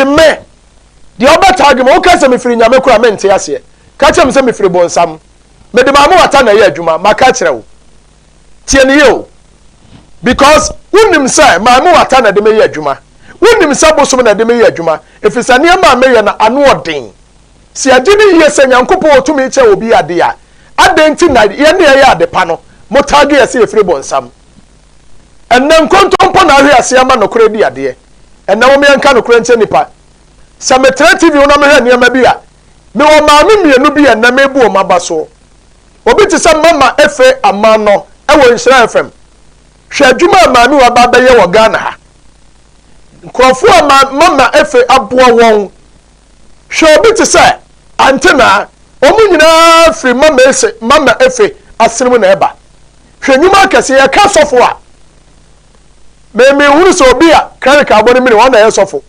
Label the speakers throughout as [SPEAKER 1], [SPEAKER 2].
[SPEAKER 1] Me, deɛ wobɛtaa adwuma, woka sɛ mefiri Nyame koro a, mente aseɛ. Ka kyerɛ me sɛ mefiri bonsam. Mede m'amewata na ɛyɛ adwuma, maka akyerɛ wo. Tie no yie o. Because wonim sɛ m'amewata na ɛde meyɛ adwuma. Wonim sɛ bosom na ɛde meyɛ adwuma, ɛfiri sɛ nneɛma a meyɛ no, ano ɔden. Sɛ yɛgye no yie sɛ Nyankopɔn wɔ tumi kyɛ obi adeɛ a, adɛn nti na yɛn a yɛyɛ adepa no, mo tag yɛ sɛ yɛfiri bonsam? Ɛnnɛ nkontompo na ahwe ase ama nokorɛ di adeɛ. Ɛnnɛ mom yɛnka nokorɛ nkyerɛ nnipa. Sɛ metra TV ho na mehwɛ nneɛma bi a, mewɔ maame mmienu bi a ɛnnɛ mebu wɔn aba so. Obi te sɛ Mama Efe Amanɔ wɔ Nhyira FM. Hwɛ adwuma a maame wei aba abɛyɛ wɔ Ghana ha. Nkurɔfoɔ a ma Mama Efe aboa wɔn. Hwɛ obi te sɛ Antenaa. Wɔn nyinaa firi Mama Ese, Mama Efe asene mu na ɛba. Hwɛ nnwuma akɛse! Yɛka sɔfo a, me menhunu sɛ obi a cleric abɔ ne mene ɔno na ɛyɛ sɔfo.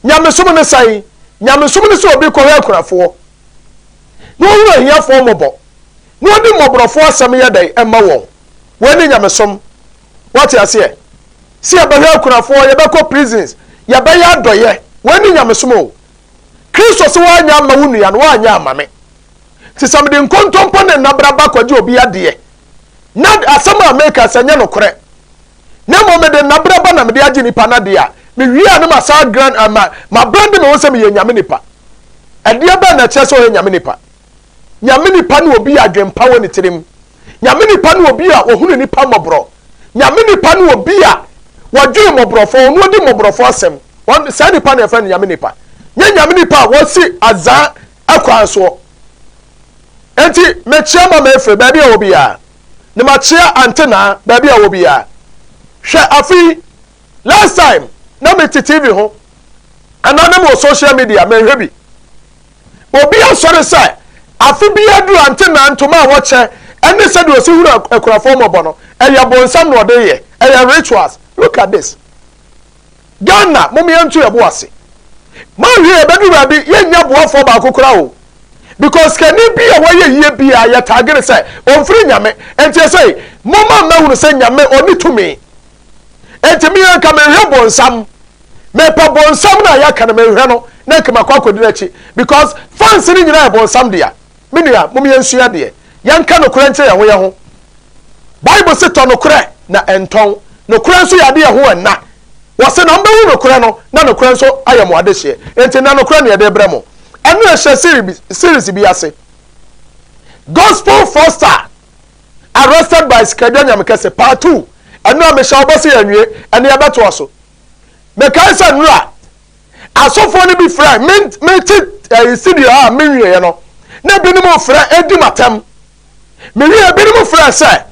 [SPEAKER 1] Nyamesom ne sɛn? Nyamesom ne sɛ obi kɔhwɛ akunafoɔ, na ɔhunu ahiafoɔ mmɔbɔ, na ɔde mmɔborɔfoɔ asɛm yɛ dɛn? Ɛma wɔn. Wei ne nyamesom. Wate aseɛ? Sɛ yɛbɛhwɛ akunafoɔ, yɛbɛkɔ prisons, yɛbɛyɛ adɔyɛ. Wei ne nyamesom o. Kristo se woanyɛ ama wo nua no, woanyɛ ama me. Nti sɛ mede nkontompo ne nnabra ba kɔgye obi adeɛ, na asɛm a meka sɛ nyɛ nokorɛ, na mmom mede nnabra ba na mede agye nipa no adeɛ a, mewie a na masan agran a, ma, mabrande me ho sɛ meyɛ Nyame nipa. Ɛdeɛ bɛn na ɛkyerɛ sɛ ɔyɛ Nyame nipa? Nyame nipa ne obi a adwempa wɔ ne tirim. Nyame nipa ne obi a ɔhunu nipa mmɔborɔ. Nyame nipa ne obi a wɔdwen mmɔborɔfoɔ, ɔno ɔdi mmɔborɔfoɔ asɛm. Wɔn, saa nipa na yɛfrɛ no Nyame nipa. Nyɛ Nyame nipa a wɔsi azaa kwan soɔ. Enti mekyea Mama Efe baabi a ɔwɔ biara, na makyea Ante Naa baabi a ɔwɔ biara. Hwɛ afe yi, last time na mete TV ho anaa na mewɔ social media, menhwɛ bi. Obi asɔre sɛ afe biara duru Ante Naa ntoma a wɔkyɛ ne sɛdeɛ ɔsi hunu akunafoɔ mmɔbɔ no, ɛyɛ bonsam na ɔde yɛ, ɛyɛ rituals. Look at this. Ghana mom yɛn to yɛn bo ase ma hwɛ yɛbɛduru baabi yɛn nya boafoɔ baako kora o because sikani bi a wɔyɛ yie bi a yɛ tagere sɛ ɔmfiri nyame nti ɛsɛ mom a mɛhunu sɛ nyame ɔni tumi nti mi yɛn ka mehwɛ bonsam mepɛ bonsam na yɛka no mehwɛ no na nka makɔ akɔdi n'akyi because fans no nyinaa yɛ bonsam dea Me nua, mom yɛnsua adeɛ. Yɛnka nokorɛ nkyerɛ yɛn ho yɛn ho. Bible se tɔ nokorɛ na ɛntɔn. Nokorɛ nso yɛ adeɛ ɛho ɛnna. Wɔse na mobɛhu nokorɛ no na nokorɛ nso ayɛ mo adehyeɛ. Enti nnɛ nokorɛ na yɛde rebrɛ mo. Ɛno na ɛhyɛ series bi ase. Gospel Fraudster Arrested by Sikadwa Nyamekɛse Part Two. Ɛno a mehyɛ wo bɔ sɛ yɛnwie, ɛnde yɛbɛtoa so. Mekae sɛ nnora Asɔfoɔ no bi frɛ me mete ɛɛ CD hɔ a menwieɛ no, na binom frɛ di m'atɛm. Mewieɛ, binom frɛ sɛ,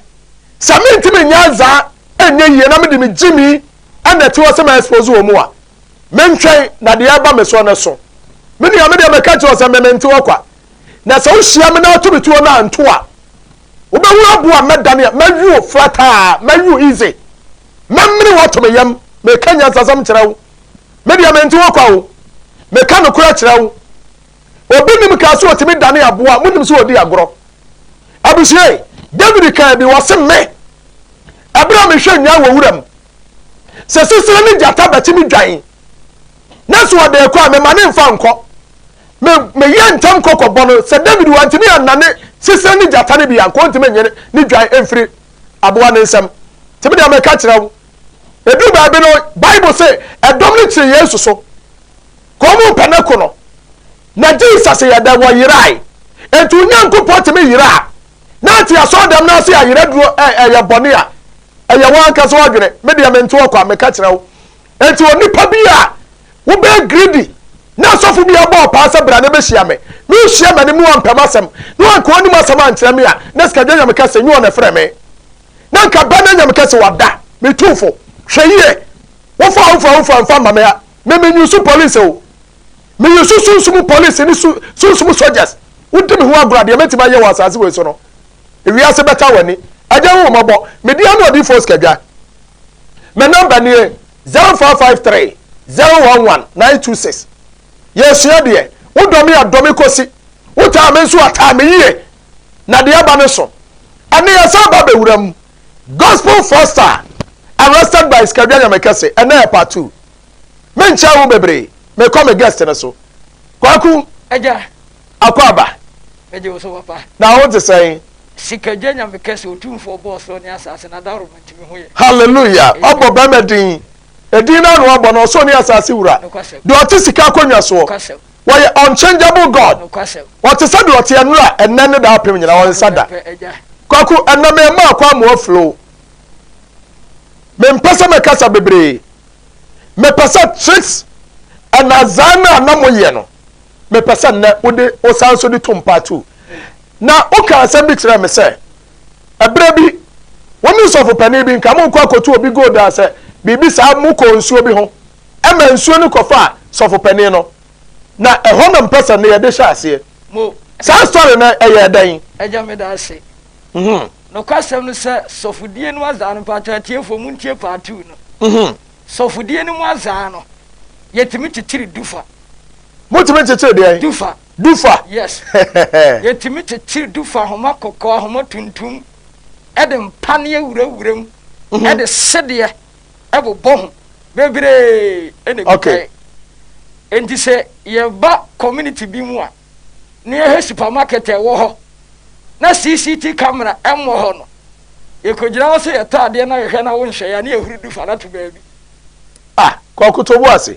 [SPEAKER 1] sɛ mentumi nyɛ adza ɛnyɛ yie na mede me gyimi na ɛte hɔ sɛ ma expose wɔn a, mentwɛn na deɛ ɛba me soɔ no so. Me nua, me deɛ mɛka kyerɛ wo sɛ me mente hɔ kwa. Na sɛ wohyia me na woto me tuo no a, nto a. Wobɛhu abo a mɛdane a, mɛwe wo flataa, mɛwe wo easy. Mɛmene wo ato me yam, meka nyansasɛm kyerɛ wo. Me deɛ mente wo kwa o, meka nokorɛ kyerɛ wo. Obi nim kaa sɛ ɔtumi dane aboa, monim sɛ ɔdi agorɔ. Abusua e, David kaa bi, ɔse me, ɛberɛ a mehwɛ nnwan wɔ wuram, sɛ sisire ne gyata bɛtumi dwan, na sɛ ɔde rekɔ a, mema no mfa nkɔ. Me, meyɛɛ ntɛm kɔ kɔbɔ no, sɛ David wantumi annane sisire ne gyata no bi a, anka ɔntumi nnye ne dwan mfiri aboa no nsam. Nti me deɛ meka kyerɛ wo, Ɛduru baabi no, Bible se ɛdɔm no kyere Yesu so, ka ɔmo mpɛ no ko no. Na Jesus yɛ dɛn? Wɔyerae. Enti Onyankopɔn tumi yeraa. Na ante asɔɔdɛm no ase a yeraduro ɛyɛ bɔne a ɛyɛ wɔn ankasa ɔdwene. Me deɛ mente ɔkɔ a meka kyerɛ wo. Enti onipa bi a wobɛyɛ greedy na asɔfo bi abɔ ɔpaa sɛ bra na bɛhyia me. Me wohyia m'anim na wampɛ m'asɛm na wanka ɔnim asɛm ankyerɛ me a na sikadwa nyame ka sɛ nyɛ ɔna frɛ me. na nka bɛ na nya me kɛse wada me tumfo hwɛ yie wo fa wo fa wo fa nfa ma me ha me me nyusu police o me yusu sunsumu police ne su sunsumu soldiers wo di me ho agorɔ adeɛ mɛtumi ayɛ wɔ asase wei so no wiase bɛta w'ani agya wo mɔbɔ me di ano ɔdi fos kadwa me namba nie 0553 011 926 yɛsua deɛ wodɔ me adɔ me kɔsi wotaa me nso ataa me yie na deɛ ɛba ne so ɛne yɛsan ba bɛwura mu gospel four star arrested by skadua nyamekɛse ɛnɛ yɛ part two menkyɛn wo bebree mekɔ me guest no so kwaku agya
[SPEAKER 2] akɔ aba
[SPEAKER 1] agya wo so
[SPEAKER 2] papa na wo te sɛn sikagya
[SPEAKER 1] nyame
[SPEAKER 2] kɛse otumfoɔ bɔɔ soro ne asase na daworo ma ntumi ho yɛ hallelujah ɔbɔ
[SPEAKER 1] bɛrima din ɛdin no ano abɔ no ɔsoro ne asase wura deɛ ɔte sika akonnwa soɔ Wɔyɛ unchangeable God. Ɔte sɛ deɛ ɔteɛ nnora, ɛnnɛ ne daapem nyinaa, ɔnsa da. Kwaku, ɛnnɛ memaa Kwamoa flow. Mempɛ sɛ mɛkasa bebree. Mepɛ sɛ tricks and azaa no a na moyɛ no, mepɛ sɛ nnɛ wode wosan nso de tom part two. Na wokaa asɛm bi kyerɛɛ me sɛ, ɛberɛ bi wo ne sɔfopanin bi nka morekɔ akɔtu obi gold a sɛ biribi saa mokɔɔ nsuo bi ho Ɛmaa nsuo no kɔfaa sɔfopanin no na ɛhɔ na mpɛsɛ no yɛde hyɛɛ aseɛ. Mo. Saa
[SPEAKER 2] story no
[SPEAKER 1] ɛyɛɛ dɛn? Agya meda ase.
[SPEAKER 2] Mhm. Nokwasɛm no sɛ sɔfodie no azaa no mpakyɛ atiefoɔ mo ntie part two no. Mhm. Sɔfodie no mu azaa no yɛtumi kyekyere dufa. Motumi
[SPEAKER 1] kyekyere deɛn? Dufa. Dufa. Yes.
[SPEAKER 2] yɛtumi kyekyere dufa ahoma kɔkɔɔ ahoma tuntum ɛde mpa ne awurawura mu ɛde sedeɛ. bobɔ ho bebree na ɛdi kan.
[SPEAKER 1] Enti
[SPEAKER 2] sɛ yɛba community bi mu a, na yɛhwɛ supermarket a ɛwɔ hɔ na CCT camera mmɔ hɔ no, yɛkɔgyina hɔ sɛ yɛtɔ adeɛ na yɛhwɛ na wonhwɛ yɛn a, na yɛhuri du fa no ato baabi. Ah,
[SPEAKER 1] Kwaku Toboase,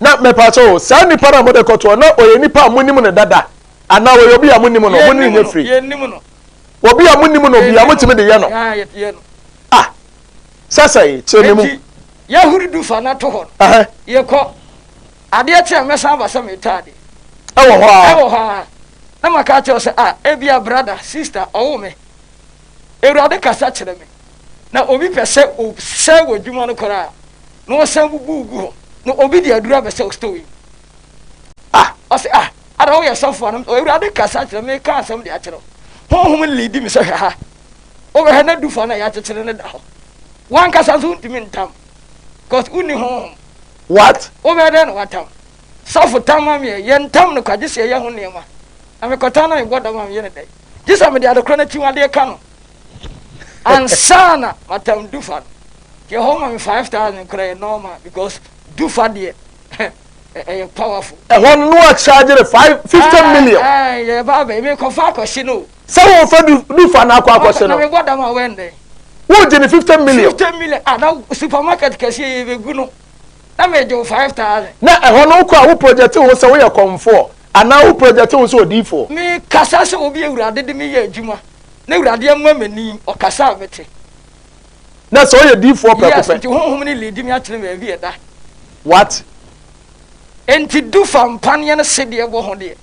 [SPEAKER 2] na mɛpakyɛ o
[SPEAKER 1] saa nipa no a mode kɔtoɔ na ɔyɛ nipa a monim no dada anaa ɔyɛ obi a monim no mone nyɛ firi
[SPEAKER 2] obi a monim
[SPEAKER 1] no bia motumi de yɛ no
[SPEAKER 2] ah
[SPEAKER 1] sɛ sɛe kyerɛ me mu yɛhuri du fa
[SPEAKER 2] no to hɔ no yɛkɔ adeɛ kyɛ mɛsan aba sɛ metaa de ɛwɔ hɔ a
[SPEAKER 1] ɛwɔ hɔ a
[SPEAKER 2] na maka kyerɛ sɛ a ebia brada sista ɔwo me awurade kasa kyerɛ me Na obi pɛ sɛ ɔsɛe w'adwuma no koraa na ɔsan bubu gu hɔ na obi de aduru abɛsɛ wo store yi mu. Ah, ɔse, ah, ada woyɛ sɔfo a? Na Awurade kasa kyerɛ me, meka asɛm de akyerɛ wo. Honhom no leadi me sɛ hwɛ ha. Wobɛhwɛ na du fa no a yɛakyekyere no da hɔ. W'ankasa nso wontumi ntam, cause wonni honhom. What?
[SPEAKER 1] Wobɛyɛ dɛn na woatam?
[SPEAKER 2] Sɔfo tam ma me ɛ, yɛntam no kwa gye sɛ yɛyɛ ho nneɛma. Na mekɔtam na mebɔ dam a meyɛ no dɛn? Gye sɛ mede adekorɔ no akyiwadeɛ ka no. ansa na matam du fa no deɛ hɔ ma me five thousand kora yɛ normal because du fa deɛ ɛyɛ powerful. ɛhɔ no wa
[SPEAKER 1] charge no five fifty ah, million. Ah, yɛ ba bɛ mi
[SPEAKER 2] kɔ fa akɔsi no. sɛ wɔn fɛ du
[SPEAKER 1] du fa na akɔ akɔsi no. na mi bɔ dam a wɛn dɛ.
[SPEAKER 2] wọ́n jẹ ni fifty
[SPEAKER 1] million. fifty million ah na
[SPEAKER 2] supermarket kẹsí ẹ yẹ gu no na mi jẹ five thousand. na ẹhọ no kọ a
[SPEAKER 1] wo project ho sẹ wo yẹ kọnfọ anaa wo project ho sẹ odiifo. mi kasa sẹ
[SPEAKER 2] obi ewura adede mi yẹ adwuma. N'Awurade amua m'ani, ɔkasa a mete. Na
[SPEAKER 1] sɛ ɔyɛ diifoɔ prɛko pɛ. Yes, nti Honhom no leadi me
[SPEAKER 2] akyene baabi a ɛda. What? Enti du fa mpaneɛ no sedeɛ bɔ ho deɛ,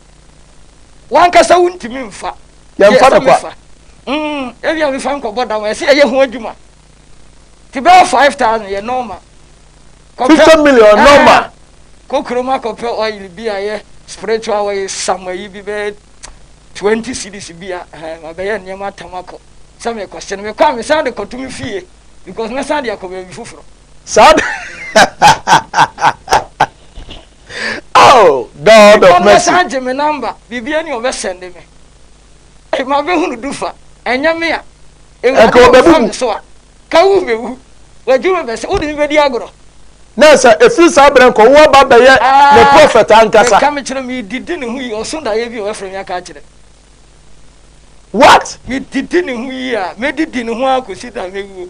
[SPEAKER 2] w'ankasa wontumi mfa. Yɛmfa no kwa. Deɛ
[SPEAKER 1] ɛsɛ mefa, mm, ebia
[SPEAKER 2] mefa nkɔbɔ dam a, ɛsɛ yɛyɛ ho adwuma. Ti bɛyɛ five thousand yɛ normal. Fifty
[SPEAKER 1] million eh, normal. Kɔ kurom
[SPEAKER 2] akɔpɛ oil bi a yɛ spiritual oil sama yi bi bɛyɛ twenty cities bi a eh, mabɛyɛ nneɛma atam akɔ sɛ mekɔ se no mekɔ a mesan de kɔto me fie because mɛsan de akɔ baabi foforɔ. Saa de
[SPEAKER 1] oh God of mercy. Mekɔ mɛsan gye me number
[SPEAKER 2] biribi ani ɔbɛsɛnde me. Ɛma me hunu du fa, ɛnyɛ me a. Awurade wɔ fa me so a,
[SPEAKER 1] ka wo
[SPEAKER 2] bɛ wu. W'adwuma bɛ sɛ, wo de me bɛ di agorɔ. Na sɛ
[SPEAKER 1] efiri saa berɛ nkɔ, wo aba bɛyɛ ne prɔfɛt ankasa. Meka mekyerɛ me didi
[SPEAKER 2] ne ho yi, ɔso daeɛ bi a wɔafrɛ me aka akyerɛ. What?
[SPEAKER 1] Me didi ne ho yi
[SPEAKER 2] a, mɛdidi ne ho ara kɔsi da mɛwuo.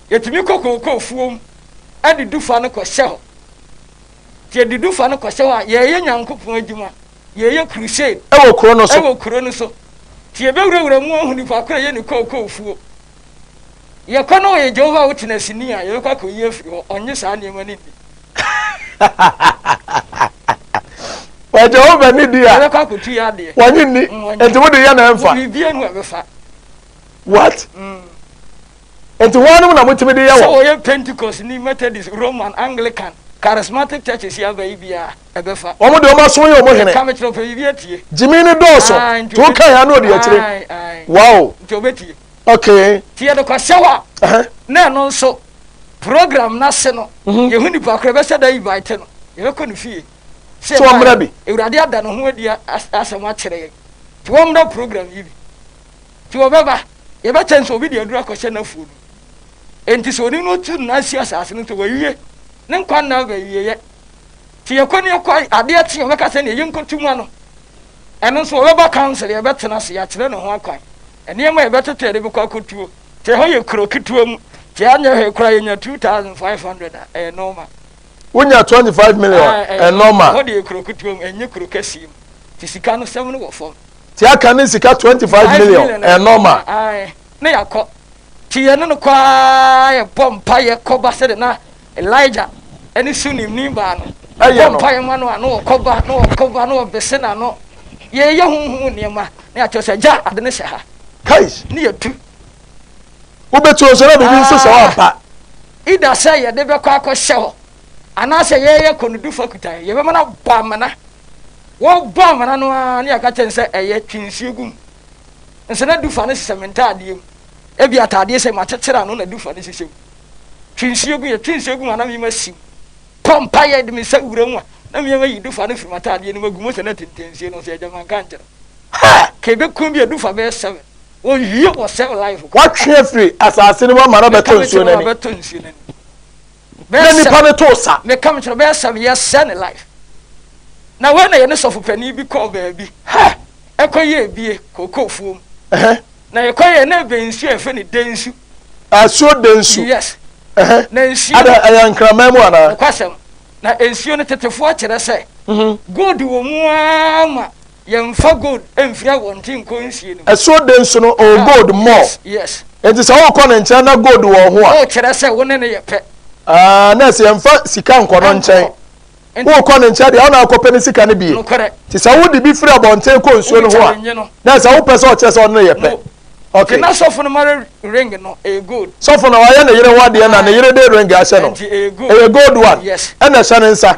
[SPEAKER 2] Yɛtumi kɔ kookoo fuom de du fa no kɔhyɛ hɔ. Nti yɛde du fa no kɔhyɛ hɔ a, yɛreyɛ Nyankopɔn
[SPEAKER 1] adwuma,
[SPEAKER 2] yɛreyɛ crusade Ɛwɔ kuro
[SPEAKER 1] no so.
[SPEAKER 2] wɔ kuro no so. Nti yɛbɛwurawura mu ahu nipa ko a ɛyɛ ne kookoo fuo. Yɛkɔ na ɔyɛ Jehovah Witnessni a, yɛbɛkɔ akɔyi afiri hɔ. Ɔnnye saa nneɛma no nni.
[SPEAKER 1] Ɔyɛ Jehovah ni di a, Yɛbɛkɔ akɔtu yɛ adeɛ.
[SPEAKER 2] wɔnye nni. Mm, wɔnye. Enti
[SPEAKER 1] mode yɛ na ɛmfa. Biribiara mu a ɛbɛfa.
[SPEAKER 2] What?
[SPEAKER 1] Mm. Enti hwannom na motumi de yɛ wɔn? Sɛ wɔyɛ Pentekostni,
[SPEAKER 2] Methodist, Roman, Anglican, Charismatic churches yi aba yi biaa, ɛbɛfa. Wɔn deɛ wɔn asom yɛ wɔn
[SPEAKER 1] hene. Ka me kyerɛ, ɔpɛ biribi atie.
[SPEAKER 2] Gyimii no dɔɔso,
[SPEAKER 1] Ae, nti to ɔbɛtie. kae a na ɔdi akyire. Ae, ae. Wow. Nti ɔbɛtie.
[SPEAKER 2] Okay. Nti
[SPEAKER 1] yɛde kɔ hyɛw
[SPEAKER 2] a, Ɛhɛ. na ɛno nso, program no ase no, yɛhu nnipa koro a ɛbɛhyɛ da yi bae te no, yɛbɛkɔ ne fie. Sɛ Sɛ wɔmmra yɛbaeɛ bi.
[SPEAKER 1] a, Awurade ada ne ho adi
[SPEAKER 2] a, as, asɛm akyerɛ yɛn. Nti wɔmmra program yi bi. Nti wɔbɛba, yɛbɛkyɛ no sɛ obi de aduru akɔhyɛ n'afuo no. Enti sɛ onii no tu nna si asase no so, wawie. Ne nkwa nna aba awieeɛ. Nti yɛkɔ ne yɛkɔ adeɛ kye a, wɔbɛka sɛ neɛ yɛnkɔtu ma no. Ɛno nso wɔbɛba council, yɛbɛtena ase, yɛakyerɛ no ho akwan. Nneɛma a yɛbɛtete a yɛde bɛkɔ akɔtuo. Nti ɛhɔ yɛ kuro ketewa mu. Nti anyɛ hwee koraa yɛnya 2500 a, ɛyɛ normal. wonya twenty
[SPEAKER 1] five million ah, eh, eh, ɛnɔma. wɔde yɛ kuro kutuo mu
[SPEAKER 2] ɛnyɛ kuro kɛseɛ mu ti sika no sɛm no wɔ fam. ti aka ne sika
[SPEAKER 1] twenty five million ɛnɔma. Ah, eh, ne yakɔ
[SPEAKER 2] ti yɛ ne no kɔ aa yɛ bɔ mpa yɛ kɔba sɛ de na elijah ɛne su nim nim baa no. ɛyɛ no bɔ mpa yɛ ma no ano wɔ kɔba no wɔ kɔba no wɔ bese na no yɛyɛ huhu nneɛma ne akyerɛ sɛ gya ade ne hyɛ ha. kais ne yɛ
[SPEAKER 1] tu. Wobɛtu nso na biribi nso sɛ woampa. Ida sɛ
[SPEAKER 2] yɛde bɛkɔ akɔhyɛ hɔ anaasɛ yɛyɛ kɔnodufo akutaeɛ, yɛbɛma no abɔ amena. Wɔbɔ amena no ara ne yɛaka kyerɛ no sɛ ɛyɛ twe nsuo gu mu. Nso na dufa no hyehyɛ me ntaadeɛ mu. Ebi ataadeɛ sɛ makyekyere ano na dufa no hyehyɛ mu. Twe nsuo gu, yɛtwe nsuo gu mu a na meyam asi mu. Kɔ mpaeɛ de me nsa wura mu a na meyam ayi dufa no firi m'ataadeɛ no mu agu mu sɛ na tenten nsuo no nso yɛ gya manka ankyerɛ. Haa! Ka ɛbɛkum bi a dufa bɛyɛ seven. Wɔnwie wɔ sɛ ɔlae hɔ. Wɔatwe afiri
[SPEAKER 1] asase no mu ama no abɛtɔ nsuo no ani. Na nnipa no too sa. Meka mekyerɛ bɛyɛ sɛ meyɛ
[SPEAKER 2] sɛ ne life. Na wei na yɛne sɔfo panin bi kɔɔ baabi. Ɛkɔ yɛ ebie kookoo fuom. Na yɛkɔ yɛ na ebe nsuo a yɛfrɛ no densu. Asuo
[SPEAKER 1] densu. Yes.
[SPEAKER 2] Na nsuo. Ada ɛyɛ nkraman mu
[SPEAKER 1] anaa? Ɛkwasɛm. Na
[SPEAKER 2] nsuo no tetefoɔ kyerɛ sɛ. Gold wɔ mu ara ma. Yɛnfa gold mfiri awɔnten nkɔ nsie no mu. Ɛso den so no, ɔwɔ
[SPEAKER 1] gold mɔ. Enti sɛ
[SPEAKER 2] worekɔ ne
[SPEAKER 1] nkyɛn na gold wɔ wo ho a. Worekyerɛ sɛ wo ne no yɛ
[SPEAKER 2] pɛ. Aah, nurse
[SPEAKER 1] yɛnfa sika nkɔ no nkyɛn. Worekɔ ne nkyɛn deɛ, wo na wokɔpɛ ne sika no bi. Enti sɛ wode bi firi abɔnten kɔ nsuo no ho a, nurse wopɛ sɛ ɔkyerɛ sɛ ɔne no yɛ pɛ. Okay. Na sɔfo no mare
[SPEAKER 2] ring no, ɛyɛ gold. Sɔfo na wayɛ ne yere
[SPEAKER 1] ho adeɛ na ne yere de ring ahyɛ no. Ɛyɛ gold one. Ɛna ɛhyɛ ne nsa.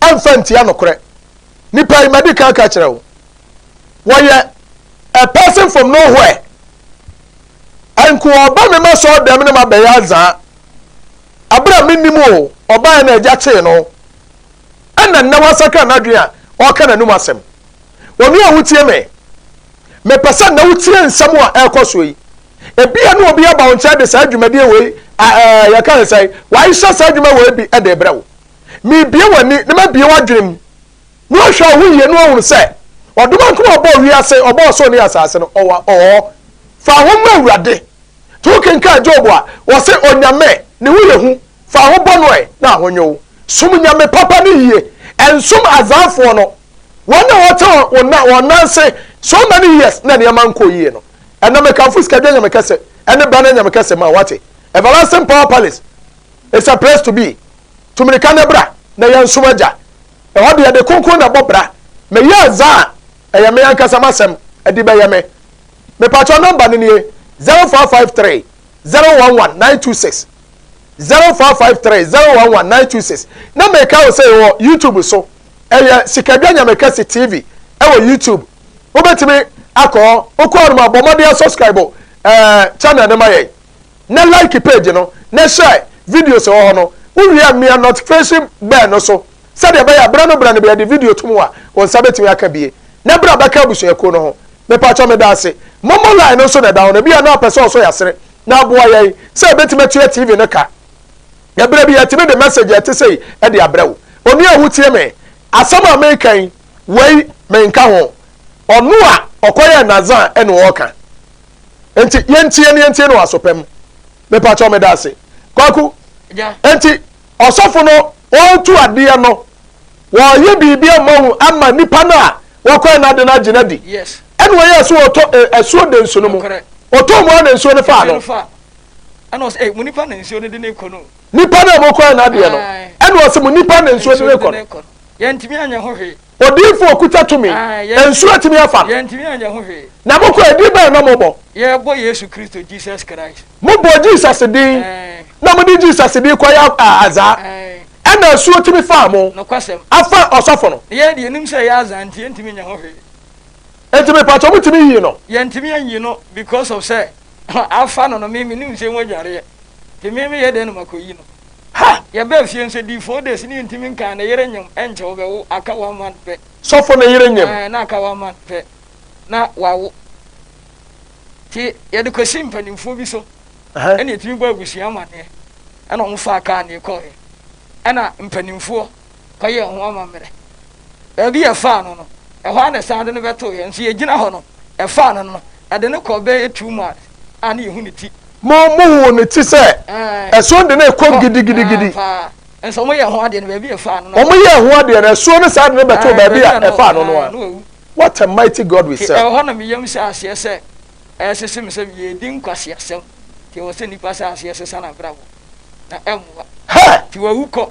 [SPEAKER 1] ɛmfa ntia nokorɛ. Nnipa yi, madi kan aka kyerɛ wo, wɔyɛ a person from nowhere. Nko ɔba me ma sɔɔ dɛm ne ma bɛyɛ adzaa. Abra me nim o, ɔbaeɛ na agya tee no. Ɛna nnɛ wasakra n'adwene a ɔreka n'anum asɛm. Onua wotie me, me pɛ sɛ nnɛ wotie nsɛm a ɛrekɔ soɔ yi. Ebia ne obi aba wo nkyɛn de saa dwumadie wei, a, ɛɛ, yɛka ne sɛn, waehyɛ saa adwuma wei bi de brɛ wo. Merebue w'ani na mabue w'adwene mu na wahwɛ wo ho yie na wahunu sɛ ɔdomankoma a ɔbɔɔ wiase, ɔbɔɔ soro ne asase no, ɔwɔ hɔ. Fa ho ma Awurade. Nti wokenkan Job a, ɔse Onyame, ne ho yɛ hu, fa ho bɔ no ɛ na ho nyɛ wo. Som Nyame papa ne yie, ɛnsom Azanfoɔ no, wɔn na wɔte wɔn nan ase so many years na nneɛma nkɔɔ yie no. Ɛnna mekamfo sika dua Nyame kɛse, ɛne ba no Nyame kɛse ma wo, wate? Everlasting Power Palace is a place to be. Tu mmirika na bra, na yɛnsom Agya. Ɛhɔ deɛ, ɛde kronkron na ɛbɔ bra. Meyɛ adze a, ɛyɛ me ankasa m'asɛm, ɛde bɛyɛ me. Mepakyɛw nɔmba no nie, zero four five three, zero one one, nine two six, zero four five three, zero one one, nine two six. Na meka wo sɛ yɛwɔ YouTube so, ɛyɛ Sikadwa Nyamekɛse TV ɛwɔ YouTube. Wobɛtumi akɔ hɔ, wokɔ hɔ no ma bɔ mmɔden asubscribe ɛɛ channel no ma yɛn. Na like page no na share videos wɔ hɔ no, wowie a mia notification bell no so sɛdeɛ ɛbɛyɛ a berɛ no berɛ no bɛyɛ de video to mu a wo nsa bɛtumi aka bie na berɛ a bɛka abusuakuo no ho. Mepakyɛ medaase. Momo line no nso na ɛda hɔ no ebia na wopɛ sɛ ɔsɔ yasere na aboa yɛn sɛ yɛbɛtumi atua TV no ka na berɛ bi yɛtumi de message a ɛte sei de abrɛ wo. Onua a wotie me asɛm a meka yi wei menka ho, ɔno a ɔkɔyɛɛ Nazan ɛna ɔɔka. Enti yɛntie no yɛntie no wɔ asopɛ mu. Mepa kyɛw meda ase. Kwaku, enti ɔsɔfo no ɔretu adeɛ no, wɔreyɛ biribi ama wo ama nipa no a wakɔɛ no ade no agye no adi. Ɛna ɔyɛɛ
[SPEAKER 2] so ɔtɔ
[SPEAKER 1] asuo de nsu no mu. Ɔtɔɔ mu a na nsuo no faa no. Ɛna ɔsɛ,
[SPEAKER 2] ei, mo nipa na nsuo no de ne kɔ no. Nipa no a mokɔɛ
[SPEAKER 1] no adeɛ no. Ɛna ɔsɛ, mo nipa na nsuo de ne kɔ no. Yɛntumi anyɛ
[SPEAKER 2] ho hwee. Odiyifo a okuta tumi,
[SPEAKER 1] nsu atumi afa no. Yɛntumi anyɛ ho hwee.
[SPEAKER 2] Na mokɔ a, din bɛn na
[SPEAKER 1] mobɔ? Yɛbɔ Yesu Kristo,
[SPEAKER 2] Jesus Christ. Mobɔ Jesus
[SPEAKER 1] din, Ɛɛ. na mode Jesus din kɔyɛ a, adza? Ɛɛ. Ɛna asuo tumi faa mo. Nokwasɛm. Afa
[SPEAKER 2] ɔsɔfo no.
[SPEAKER 1] Na yɛn deɛ, yɛnim sɛ ɛyɛ adza
[SPEAKER 2] nti, yɛntumi nyɛ ho hwee. Enti
[SPEAKER 1] mepakyɛw, motumi yii no? Yɛntumi anyi no
[SPEAKER 2] because of sɛ, afa no no, me, menim sɛ emu adwareɛ, nti me, meyɛ dɛn na makɔyi no? Ha! Yɛbaa
[SPEAKER 1] fie nso ɛdii
[SPEAKER 2] four days ne yɛntumi nkaa ne yere nyem ɛnkyɛ wɔbɛwo aka one month pɛ. Sɔfo ne yere nyem?
[SPEAKER 1] Ɛɛ na aka one month pɛ
[SPEAKER 2] na wawo. Nti yɛde kɔsii mpanimfoɔ bi so ɛna yɛtumi bɔɔ abusua amaneɛ ɛna wɔn faa kaa ne kɔɔɛ ɛna mpanimfoɔ kɔ yɛɛ ho amammerɛ. Baabi a ɛfaa no no, ɛhɔ ara na ɛsan de no bɛtooeɛ. Nso yɛgyina hɔ no, ɛfaa no no, ɛde no kɔɔ bɛyɛ two miles a na yɛhu ne ti. Mo, mohuu ne
[SPEAKER 1] ti sɛ ɛso de no rekɔ gidigidigidi. Nso wɔyɛɛ
[SPEAKER 2] ho adeɛ no, baabi a ɛfaa no no. Wɔyɛɛ ho adeɛ no, ɛso
[SPEAKER 1] no san de no bɛtoo baabi a ɛfaa no no ara. What a mighty God we serve! Ɛwɔ hɔ na me yam hyɛɛ aseɛ
[SPEAKER 2] sɛ ɛresese me sɛ yɛredi nkwaseasɛm, nti ɛwɔ sɛ nnipa hyɛ aseɛ sesa n'abrabɔ, na ɛmmoa nti wawu
[SPEAKER 1] kɔ.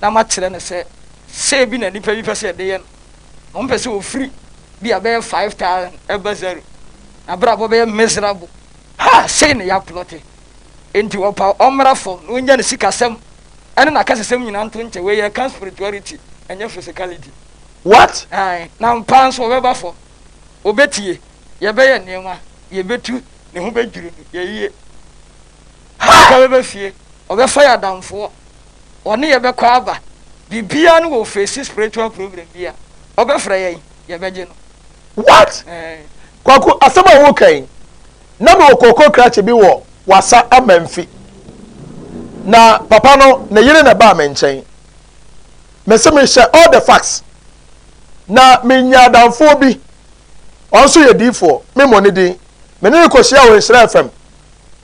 [SPEAKER 2] na makyerɛ no sɛ sɛ bi na nnipa bi pɛ sɛ yɛde yɛ no, na wɔpɛ sɛ wɔfiri bi a bɛyɛ 5000 ɛba zero, na abrabɔ bɛyɛ miserable. Ha, sei na yɛaplɔte. Enti wɔpaw ɔmmra fam na ɔnya ne sikasɛm ne n'akasasɛm nyinaa nto nkyɛ. Wei yɛ ka spirituality, ɛnyɛ physicality. What?
[SPEAKER 1] Ae, na ampa
[SPEAKER 2] nso ɔbɛba fam. Ɔbɛtie, yɛbɛyɛ nneɛma, yɛbɛtu, ne ho bɛdwiri no, yɛyie. Yɛbɛkɔ bɛba fie, ɔbɛfa yɛ adamfoɔ, ɔne yɛ bɛkɔ aba, biribiara no wɔ face spiritual problem bi a, ɔbɛfrɛ yɛn, yɛbɛgye no. What? Ɛɛ.
[SPEAKER 1] Kwaku, asɛm a woreka yi, na mewɔ kookoo krakye bi wɔ Wassa Amanfi. Na papa no, ne yere na ɛbaa me nkyɛn. Mese mehyɛ all the facts. Na menya adamfoɔ bi, ɔno nso yɛ diifoɔ, memmɔ ne din, me ne no kɔhyiaa wɔ Nhyira FM.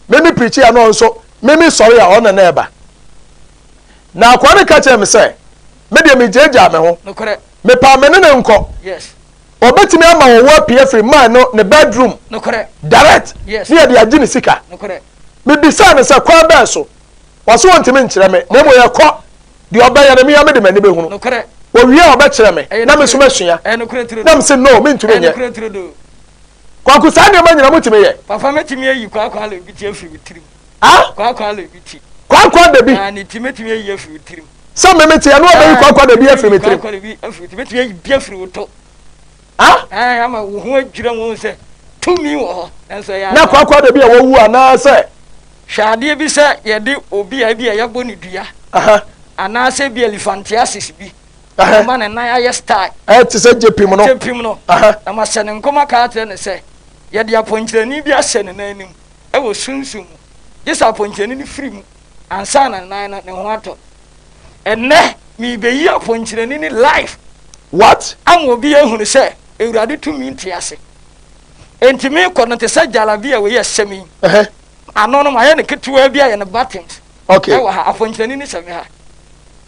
[SPEAKER 1] me me pirikyi a na ɔno nso me me sɔre a ɔno na na ɛba na akoa no ka kyerɛ me sɛ me deɛ megyaagyaa me ho mepaa me
[SPEAKER 2] ne ne nkɔ ɔbɛtumi ama
[SPEAKER 1] wɔn wɔ apue afiri man no ne bedroom direct
[SPEAKER 2] ne
[SPEAKER 1] yɛde agye ne
[SPEAKER 2] sika mebisaa no sɛ
[SPEAKER 1] kwan bɛɛ so wɔso wɔntumi nkyerɛ me na mmom yɛkɔ deɛ ɔbɛyɛ no meya mede m'ani bɛhunu wɔwie a
[SPEAKER 2] ɔbɛkyerɛ
[SPEAKER 1] me na me so masua na mese
[SPEAKER 2] no mentumi
[SPEAKER 1] nyɛ Kwaku saa nneɛma nyina mo tumi yɛ. Papa mɛ tumi ayi
[SPEAKER 2] kwakwa le bi ti afiri me tirim. Ah? Kwakwa le bi ti. Kwakwa da bi. Ah ne
[SPEAKER 1] ti mɛ tumi ayi
[SPEAKER 2] afiri me tirim. Sɛ mɛ mɛ ti ɛno
[SPEAKER 1] abɛyi kwakwa da bi afiri me tirim. Kwakwa le bi afiri ti mɛ tumi
[SPEAKER 2] ayi bi afiri wo to. Ah? Ah ama wo ho adwira mu sɛ tumi wɔ hɔ nanso ɛyɛ. Na kwakwa da bi a wawu
[SPEAKER 1] anaa sɛ. Hwɛ adeɛ bi
[SPEAKER 2] sɛ yɛde obi a ebi a yɛbɔ ne dua. Aha. Anaasɛ bi elefantiasis bi. Ɛhɛn. Mma ne nan ayɛ style. Ɛɛ te sɛ gyepim
[SPEAKER 1] no. Gyepim no. Ɛhɛn. Na mahyɛ ne
[SPEAKER 2] nkɔm aka akyerɛ no sɛ, yɛde apɔnkyenani bi ahyɛ ne nan anim wɔ sunsum mu, gye sɛ apɔnkyenani no firi mu ansa na ne nan no, ne ho atɔ. Ɛnnɛ, merebeyi apɔnkyenani no live. What?
[SPEAKER 1] Ama obi ahunu
[SPEAKER 2] sɛ Awurade tumi nte ase. Enti merekɔ no te sɛ jalabia wei a ɛhyɛ me yi. Ɛhɛn. Ano no, mayɛ no ketewaa bi ayɛ no buttons. Okay. Ɛwɔ ha, apɔnkyenani no hyɛ me ha.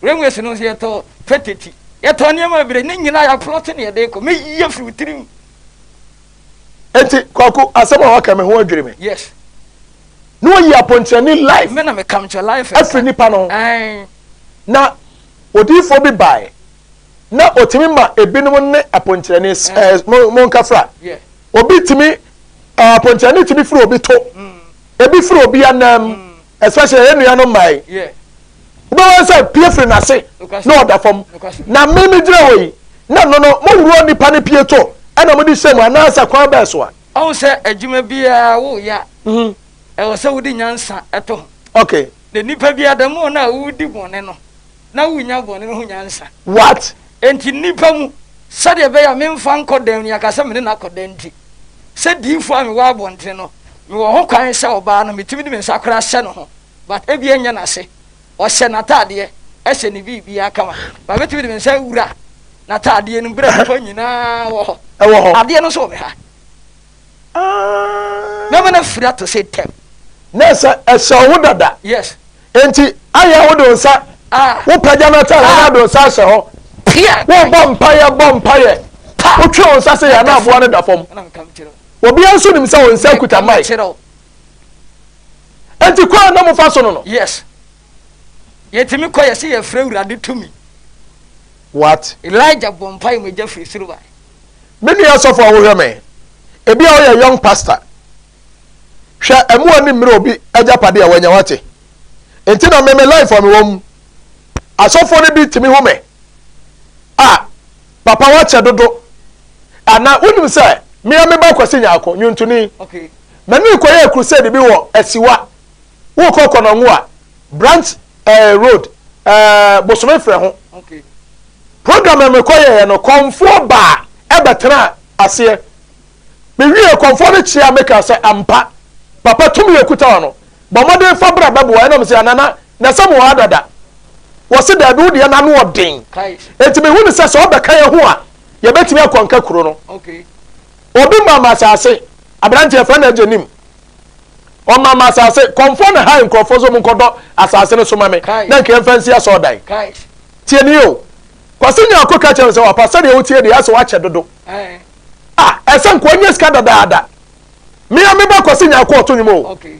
[SPEAKER 2] Railways no nso yɛtɔ fatati. Yɛtɔ nneɛma bebree. Ne nyinaa yɛaplɔte ne yɛde kɔ. Mɛyi afiri wo tirim.
[SPEAKER 1] Enti Kwaku, asɛm a waka me ho adwiri me. Yes.
[SPEAKER 2] Na
[SPEAKER 1] wɔyi apɔnkyerɛni life. Me na me kamkyɛ life.
[SPEAKER 2] Afiri nipa no ho.
[SPEAKER 1] Ɛn. Na odiyifoɔ bi bae. Na ɔtumi ma ebinom ne apɔnkyerɛni ɛɛ mo mo nkafra. Yeah. Obi tumi ɛɛ apɔnkyerɛni tumi firi obi to. Mm. Ebi firi obi anam. Mm. especially yɛn nuanom mmaa yi wobɛwɔ sɛ pie firi n'ase na ɔda fam na me me gyina hɔ yi na no no moworɔ nipa ne pie to ɛna mode hyɛ mu anaasɛ kwan bɛɛ so a ɔhu sɛ adwuma
[SPEAKER 2] biara woyɛ a mhm. ɛwɔ sɛ wode nyansa ɛto ho okay na
[SPEAKER 1] nipa biara da
[SPEAKER 2] mu na wodi bɔne no na wunnya bɔne ho nyansa. What? Enti
[SPEAKER 1] nnipa
[SPEAKER 2] mu, sɛdeɛ ɛbɛyɛ a memfa nkɔ dan mu, yɛaka sɛ me ne no akɔ dan nti, sɛ diyifoɔ a mewɔ abɔntene no, mewɔ ho kwan sɛ ɔbaa no, metumi de me nsa koraa hyɛ ne ho, but ebia ɛnyɛ n'ase, ɔhyɛ n'ataadeɛ, ɛhyɛ ne biribiara kama, but mɛtumi de me nsa awura n'ataadeɛ no mu berɛ a nnipa nyinaa wɔ hɔ. Ɛwɔ hɔ. Adeɛ no nso wɔ me ha. Ah! Mɛma no afiri atɔ sɛ ntɛm. Na ɛsɛ,
[SPEAKER 1] ɛhyɛ wo ho dada. Yes. Enti
[SPEAKER 2] ayɛ
[SPEAKER 1] wode wo nsa wopagya no ata hɔ na ade wo nsa ahyɛ hɔ wobɔ mpaeɛ bɔ mpaeɛ wotwe wo nsa sɛ yɛ na aboa no da fam obiara nso nim sɛ wo nsa kuta mae enti kɔ a na mofa so no no yes
[SPEAKER 2] yɛtumi kɔ yɛ sɛ yɛfrɛ awurade tumi
[SPEAKER 1] what elijah bɔ
[SPEAKER 2] mpaeɛ mogya firi soro bae me nua
[SPEAKER 1] sɔfo a wohwɛ me ebi a woyɛ young pastor Hwɛ ɛmo ani mmere obi agyapade a wanya wate nti na me me life a me wɔ mu asɔfoɔ no bi tumi hu me a papa wakyɛ dodo ana wonim sɛ me a meba kwasi nyaako nyuntuni mani
[SPEAKER 2] kɔ yɛ
[SPEAKER 1] crusade bi wɔ asiwa wokɔ kɔnɔngo a branch eh, road eh, bosome frɛ ho okay.
[SPEAKER 2] program a
[SPEAKER 1] mekɔ yɛɛ no kɔmfoɔ baa ɛbɛtena aseɛ Miwiee akɔmfoɔ no kyeaa me kaa sɛ, Ampa, Papa, tumi a ɔkuta hɔ no, bɔ mmɔden fa bra bɛboa yɛn. Ɛnna wɔsee, Anana, na ɛsɛ mo wɔ ha dada? Wɔse, Daabi, wo deɛ n'ano wɔ den. Enti mehu no sɛ, sɛ ɔbɛka yɛn ho a, yɛbɛtumi akɔ nka kuro no.
[SPEAKER 2] Obi maa
[SPEAKER 1] me asase, aberanteɛ yɛfrɛ no Agye Nim. Ɔmaa me asase, kɔmfoɔ na hae nkurɔfoɔ sɛ wɔnkɔdɔ asase no so ma me, na nka yɛmfa nsi asɔɔdan. Tie nie o, Kwasi Nyarko ka kyerɛɛ me sɛ, Wapa, sɛdeɛ wotie deɛ, ayɛ sɛ woakyɛ dodo. Ah, ɛsɛ nkoa nyɛ sika dadaada. Me a meba kwasi nyaako ɔto nwom o. Okay.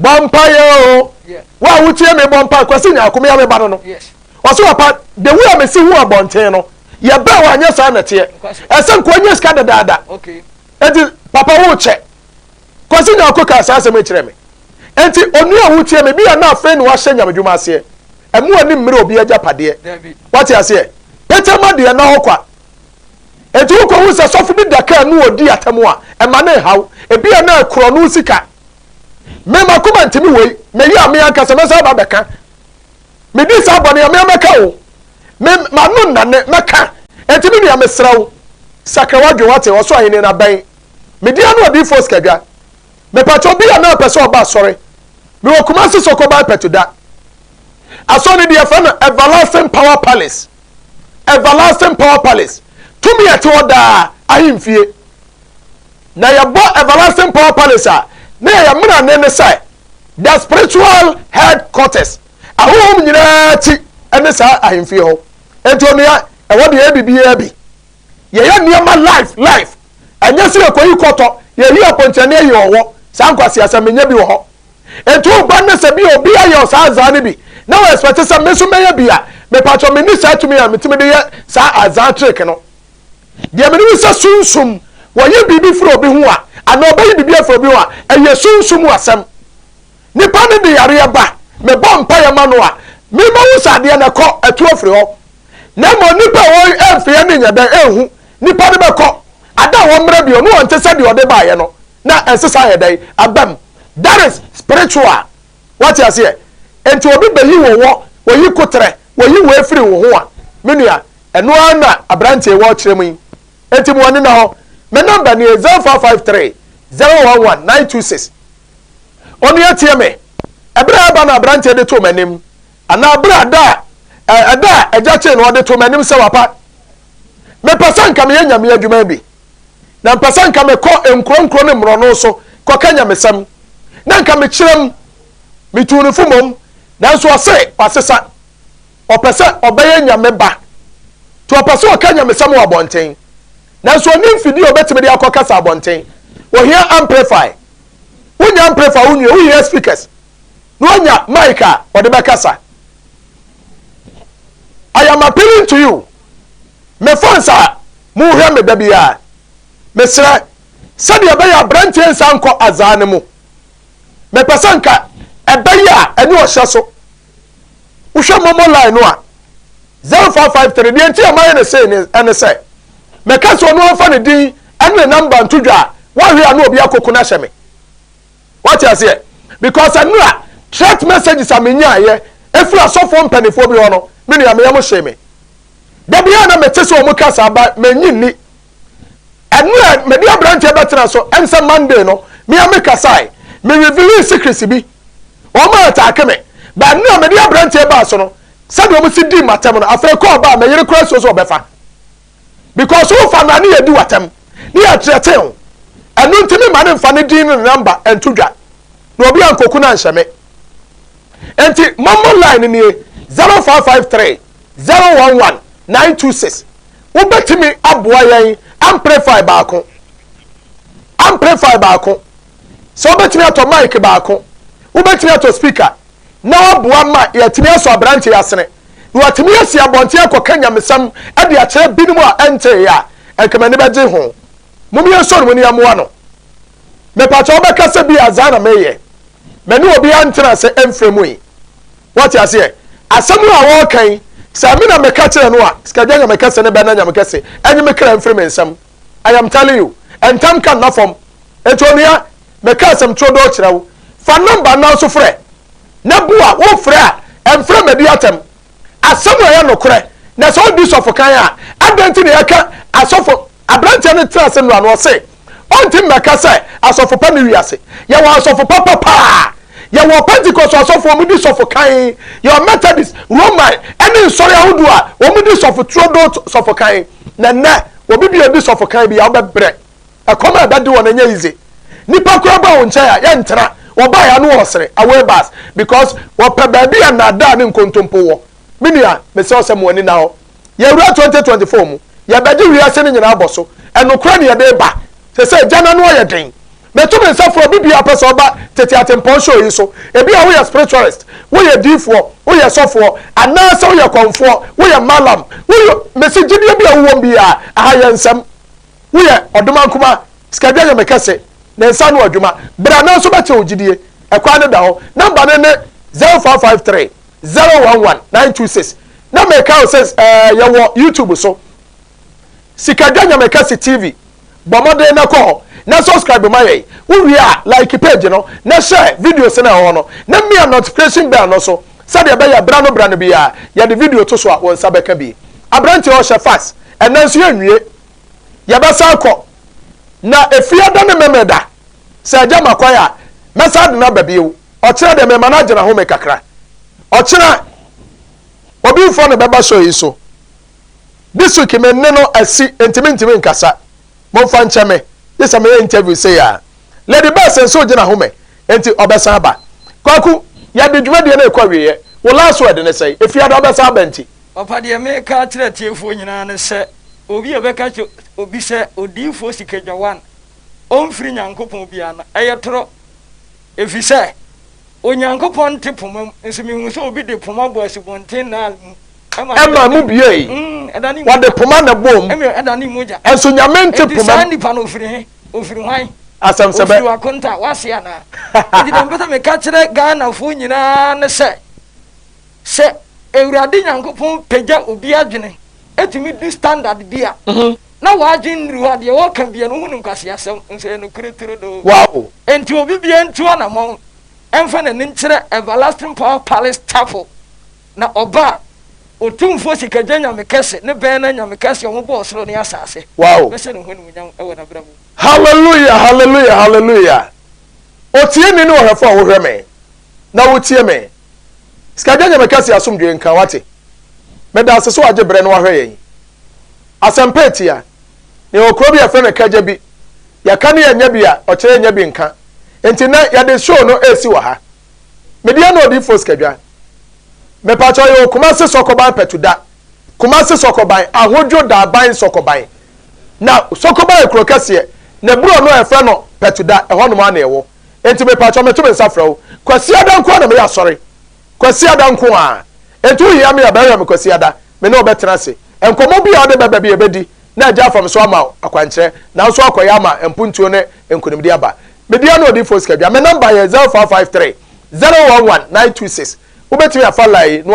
[SPEAKER 1] Bɔ
[SPEAKER 2] mpaeɛ o.
[SPEAKER 1] Yeah. Wo a wotie me bɔ mpaeɛ kwasi nyaako me a meba no no. Yes. Ɔsɛ wapa
[SPEAKER 2] the
[SPEAKER 1] way a mesi ho abɔnten no yɛbɛn wɔ anyɛ saa na teɛ. Ɛsɛ nkoa nyɛ sika dadaada. Okay. Eti
[SPEAKER 2] papa
[SPEAKER 1] wo kyɛ. Kwasi nyaako kaa saa asɛm kyerɛ me. Enti onua a wotie me bi a na afei na wahyɛ nyamedwuma aseɛ. Ɛmu ani mmere obi agyapadeɛ. Wate aseɛ? Petama deɛ na hɔ kwa. Enti wukohu sɛ sɔfo bi da kar no odi atam a, ɛma no nhaw. Ebia na korɔno nsi ka. Me, m'akoma ntumi wei. Meyɛ a, me ankasa mɛsan aba abɛka. Medi saa bɔne a, me ara mɛka o. Me, m'ano nnane, mɛka. Enti me nua, mesrɛ wo, sakra w'adwene, woate? Ɔsoro Ahenni no abɛn. Medi ano Odiyifoɔ Sikadwa. Mepakyɛ obi a na ɔpɛ sɛ ɔba asɔre. Mewɔ Kumasi Soko Bae Pɛtoda. Asɔre no deɛ yɛfrɛ no Everlasting Power Palace. Everlasting Power Palace, Tumi a Ɛte Hɔ Daa ahemfie. Na yɛbɔ Everlasting Power Palace a, na yɛyɛ mmerane ne sɛ the spiritual headquarters, ahonhom nyinaa ti ne saa ahemfie hɔ. Enti onua, ɛhɔ de yɛyɛ biribiara bi. Yɛyɛ nneɛma live live. Ɛnyɛ sɛ yɛkɔyi kɔtɔ, yɛyi apɔnkye ne yɛyi ɔwɔ. Saa nkwaseasɛm no, ɛnyɛ bi wɔ hɔ. Enti wo ba no sɛ bi a obi ayɛ ɔsaa azaa no bi na wo expect sɛ me nso mɛyɛ bi a, mepakyɛw menni saa tumi a metumi de yɛ saa azaa trick no. Deɛ menim ne sɛ sunsum, wɔyi biribi firi obi ho a, anaa ɔbɛyi biribi afiri obi ho a, ɛyɛ sunsum asɛm. Nipa no de yareɛ ba, mebɔ mpaeɛ ma no a, me mahu sɛ adeɛ no ɛkɔ, ɛtu afiri hɔ. Na mmom nipa a ɔremfeɛ no nyɛ dɛn, ɛnhu, nipa no bɛkɔ, ada hɔ mmerɛ bio, na ɔnte sɛ deɛ ɔde baeɛ no. na ɛnsesa ayɛ dɛn aba mu that is spiritual wate aseɛ nti obi bɛyi wo wɔ wɔyi koterɛ wɔyi wɔ afiri wo ho a me nua ɛno ara na aberanteɛ wɔ kyerɛ mu yi nti mo ani na hɔ me number nie 0453 011 926 onua tie me ɛberɛ a ɛba na aberanteɛ de to m'anim anaa berɛ a da a ɛda a agya kyee na ɔde to m'anim sɛ wapa mepɛ sɛ nka meyɛ nyame adwuma bi na mpɛ sɛ nka mekɔ nkuro nkuro ne mmorɔno so kɔka nyamesɛm, na nka mekyerɛm, metuu no fo mmom, nanso ɔse wasesa, ɔpɛ sɛ ɔbɛyɛ nyame ba, nti ɔpɛ sɛ ɔka nyamesɛm wɔ abɔnten, nanso ɔnni mfidie a ɔbɛtumi de akɔ kasa abɔnten, ɔhia amplifier, wonya amplifier wo nwie, wohia speakers, na wonya mic a ɔde bɛkasa. I am appealing to you, Me fans a mo hwɛ me da biara mesrɛ sɛdeɛ ɛbɛyɛ abranteɛ nsa nkɔ azaa no mu me pɛ sɛ nka ɛbɛyɛ a ɛne ɔhyɛ so wohwɛ momo line no a 0553 deɛ nti a mayɛ ne sei ne ɛne sɛ mɛka sɛ ɔno amfa ne din ɛne ne namba nto dwa a wahwɛ a na obi akoko no ahyɛ me wate aseɛ because ɛno a threat messages a menyaayɛ ɛfiri asɔfoɔ mpanimfoɔ bi hɔ no me nua meyɛ mo hyee me Da biara na mete sɛ wɔn kasa aba m'enyi nni. Ɛno a mede aberanteɛ bɛtena so ɛnsɛ Monday no mea me kasae me revealing secrets bi wɔn a ataake me but ɛno a mede aberanteɛ baa so no sɛdeɛ wɔn si dii m'atɛm no afei kɔɔ baa meyere koraa suo so ɔbɛfa because wofa no a ne yɛdi w'atɛm ne yɛ threaten wo ɛno nti me ma ne nfa ne din ne number ɛnto dwa na obi ankoku no anhyɛ me nti mɔmmɔ line nie zero five five three. zero one one nine two six wobɛtumi aboa yɛn amplify baako amplify baako sɛ wobɛtumi atɔ mic baako wobɛtumi atɔ speaker na waboa ma yɛatumi asɔ aberante asene na watumi asi abɔnten akɔka nyamesɛm de akyerɛ binom a ɛntee a ɛnkamani bɛgye ho mom yɛnsɔ no mu ne yɛmmoa no mepatwa wobɛka sɛ bi azaa na meyɛ mɛne obi antena sɛ ɛmfrɛ mu yi Wate aseɛ? Asɛm a wɔreka yi, sɛ eme na meka kyerɛ no a, Sikagyɛ Nyame kɛse ne Bɛna Nyame kɛse nye me kra mfiri me nsam. I am telling you. Ntam ka nna fam. Enti onua, meka asɛm turodoo kyerɛ wo, fa number nnan so frɛ, na bu a wofrɛ a, mfrɛ mmɛdi atɛm. Asɛm a ɛyɛ nokorɛ, na sɛ odi sɔfokan a, adɛn nti na yɛka asɔfo, Aberanteɛ no tenaa ase nnora no, ɔse, Ɔnte mmɛka sɛ, Asɔfo pa nni wiase. Yɛwɔ asɔfo papa paa. Yɛwɔ Pentekost asɔfo a wɔdi sɔfo kan, yɛwɔ Methodist, Roman, ne nsɔre ahodoɔ a wɔdi sɔfo turo do sɔfo kan. Na nnɛ, obi bi a ɔdi sɔfo kan bi a, wobɛbrɛ. Ɛkɔm a ɛbɛde wɔn, ɛnyɛ yize. Nnipa koraa ba wo nkyɛn a, yɛntena. Wɔbaeɛ a, na wɔresere, away bus, because wɔpɛ baabi a nnaadaa ne nkontompo wɔ. Me nua, mesrɛ wo sɛ ma w'ani nna hɔ. Yɛwura twenty twenty four mu, yɛbɛgye wiase no nyinaa bɔ so. Ɛnokorɛ ne yɛde reba. Sesei agya no ano ayɛ den. Meto me nsa frɛ obibiaa ɔpɛ sɛ ɔba Tete Atempɔn show yi so. Ebia woyɛ spiritualist, woyɛ diifoɔ, woyɛ sɔfoɔ, anaasɛ woyɛ kɔmfoɔ, woyɛ mallam, woyɛ Mese gyidie bia wowɔm biaa, aha yɛ nsɛm. Woyɛ ɔdomaa nkumaa, sikadwa nyame kɛse, ne nsa ano adwuma, bra nanso bɛkyerɛ wo gyidie. Ɛkwan no da hɔ. Number no ne zero five five three zero one one nine two six na meka o sɛ ɛɛ eh, yɛwɔ youtube so sikadwa nyamekɛse tv bɔ mmɔden na kɔ hɔ na subscribe ma yɛn wowie a like page no na hyɛ videos no ɛwɔ hɔ no na mmea notification bell no so sɛdeɛ ɛbɛyɛ bra no bra no biara yɛde video to so a wɔn nsa bɛka bi aberanteɛ ɔhyɛ fax ɛnɛ nso yɛnwie yɛbɛsan kɔ na efie da ne mmɛmɛ da sɛ ɛgya ma kwan a mɛsan de no aba bio Ɔkyena deɛ mɛma no agye n'ahome kakra. Ɔkyena, obi mfa no bɛba show yi so. This week me ne no asi enti mentumi nkasa. Momfa nkyɛ me, gye sɛ meyɛ interview sei ara. Lady Bass nso regye n'ahome enti ɔbɛsan aba. Kwaku, yɛde dwumadie no rekɔ awieeɛ. Wo last word ne sɛn? Efiada wobɛsan aba nti. Papa deɛ meka
[SPEAKER 2] akyerɛ atiefoɔ nyinaa ne sɛ obi a ɔbɛka kyerɛ obi sɛ odiyifoɔ Sika Dwawan ɔmfiri Nyankopɔn biara no ɛyɛ torɔ. Efisɛ Onyankopɔn te poma mu, nso mihuu sɛ obi de poma bɔɔ Asubɔnten Nile mu, ɛma ɛdan Ɛmaa emu
[SPEAKER 1] buei. Mm, ɛdanee mu Wɔde mogya. poma na ɛbɔɔ mu. Ɛma ɛdanee mogya. Nanso
[SPEAKER 2] Nyame nte Enti poma
[SPEAKER 1] saa mu. nipa no, ofiri he?
[SPEAKER 2] Ofiri hwan? Asɛmsɛbɛ. Ofiri
[SPEAKER 1] w'akonta, w'ase
[SPEAKER 2] anaa? Enti deɛ mepɛ sɛ meka kyerɛ Ghanafoɔ nyinaa ne sɛ, sɛ Awurade Nyankopɔn pagya obi adwene tumi du standard bi a, na w'adwen nnuru hɔ a, deɛ wɔka biara no wohu no nkwaseasɛm, nso ɛyɛ nokorɛ turodoo. Wow! Enti obi
[SPEAKER 1] biara
[SPEAKER 2] ntu anamɔn mfa n'ani nkyerɛ Everlasting Power Palace Chapel, na ɔba a, Otumfoɔ Sikagya Nyame Kɛse, ne Bɛn Ara Nyame Kɛse a Ɔbɔɔ Ɔsoro ne Asase, Wow! bɛhyɛ ne ho animuonyam wɔ n'abrabɔ mu. Hallelujah,
[SPEAKER 1] hallelujah, hallelujah. Otieni ne ɔhwɛfo a wohwɛ me na wutie me. Sikagyɛ nyɛ me kɛse asomdwoe nka wate Meda ase sɛ wagye berɛ na wahwɛ yɛn Asɛmpa atia na yɛwɔ kuro bi a yɛfrɛ no Kagya bi Yɛka ne yɛnnya bi a ɔkyerɛ yɛnnya bi nka Enti nnɛ yɛde show no resi wɔ ha Me deɛ ne Odiyifoɔ Sikadwa Mepakyɛw yɛwɔ Kumasi Sɔkɔban Patuda Kumasi Sɔkɔban Ahodwo Daaban Sɔkɔban Na Sɔkɔban yɛ kuro kɛseɛ na ɛboro ɔno a yɛfrɛ no Patuda ɛhɔnom ara na yɛwɔ. Enti mepakyɛw meto me nsa frɛ wo. Kwasiada nko ara na meyɛ asɔre. Kwasiada nko ara. Enti wohia me a, bɛhwɛ me Kwasiada. Me ne wo bɛtena ase. Nkɔmmɔ bi a wode bɛba bi a yɛbɛdi na agya afam so ama wo akwankyerɛ. Nanso akɔyɛ ama mpuntuo ne nkonimdie aba. Me deɛ ne Odiyifoɔ Sika Dua. Me nɔmba yɛ 0553 011 926. Wobɛtumi afa line no.